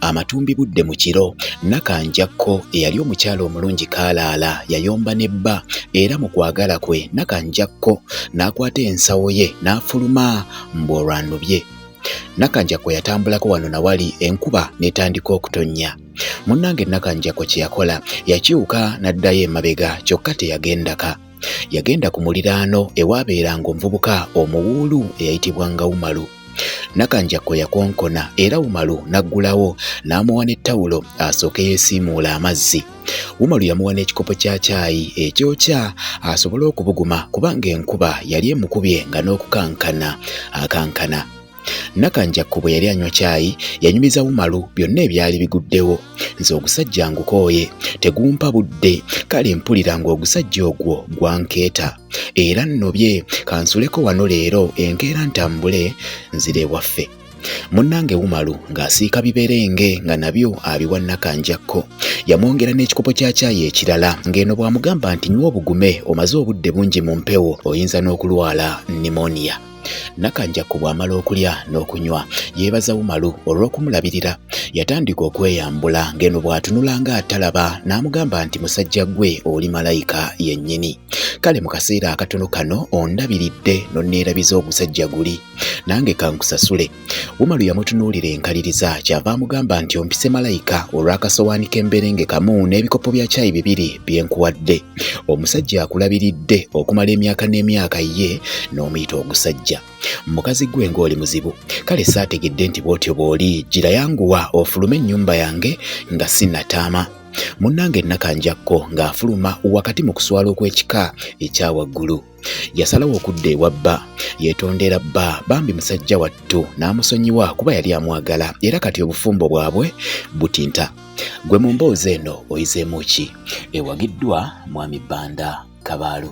Amatumbi budde mu kiro, Nakanjakko eyali omukyala omulungi kaalaala yayomba ne bba era mu kwagala kwe Nakanjakko n'akwata ensawo ye n'afuluma mbu olwanubye. Nakanjakko yatambulako wano na wali enkuba n'etandika okutonnya. Munnange Nakanjakko kye yakola yakyuka n'addayo emabega kyokka teyagendaka. Yagenda ku muliraano ewaabeeranga omuvubuka omuwuulu eyayitibwanga Umalu. Nakanjakko yakonkona era Umalu n'aggulawo n'amuwa ne ttawulo asooke yeesiimuule amazzi. Umalu yamuwa n'ekikopo kya caayi ekyokya asobole okubuguma kubanga enkuba yali emukubye nga n'okukankana akankana. Nakanjakko bwe yali anywa caayi yanyumiza Umaru byonna ebyali biguddewo. Nze ogusajja ngukooye, tegumpa budde, kale mpulira ng'ogusajja ogwo gwankeeta. Era nnobye kansuleko wano leero enkeera ntambule nzire ewaffe. Munnange Umaru ng'asiika biberenge nga nabyo abiwa Nakanjakko. Yamwongera n'ekikopo kya caayi ekirala ng'eno bw'amugamba nti nywa obugume omaze obudde bungi mu mpewo oyinza n'okulwala pneumonia. Nakanjakku bw'amala okulya n'okunywa yeebaza Umaru olw'okumulabirira. Yatandika okweyambula ng'eno bw'atunula ng'atalaba n'amugamba nti musajja ggwe oli malayika yennyini. Kale mu kaseera akatono kano ondabiridde n'onneerabiza ogusajja guli. Nange kankusasule. Umaru yamutunuulira enkaliriza kyava amugamba nti ompise malayika olw'akasowaani k'emberenge kamu n'ebikopo bya caayi bibiri bye nkuwadde. Omusajja akulabiridde okumala emyaka n'emyaka ye n'omuyita ogusajja. Mukazi gwe ng'oli muzibu. Kale saategedde nti bw'otyo bw'oli. Gira yanguwa ofulume ennyumba yange nga sinnataama. Munnange Nakanjakko ng'afuluma wakati mu kuswala okw'ekika ekya waggulu. yasalawo okudda ewa bba yeetondera bba bambi musajja wattu n'amusonyiwa kuba yali amwagala era kati obufumbo bwabwe butinta gwe mu mboozi eno oyizeemu ki ewagiddwa mwami bbanda kabaalu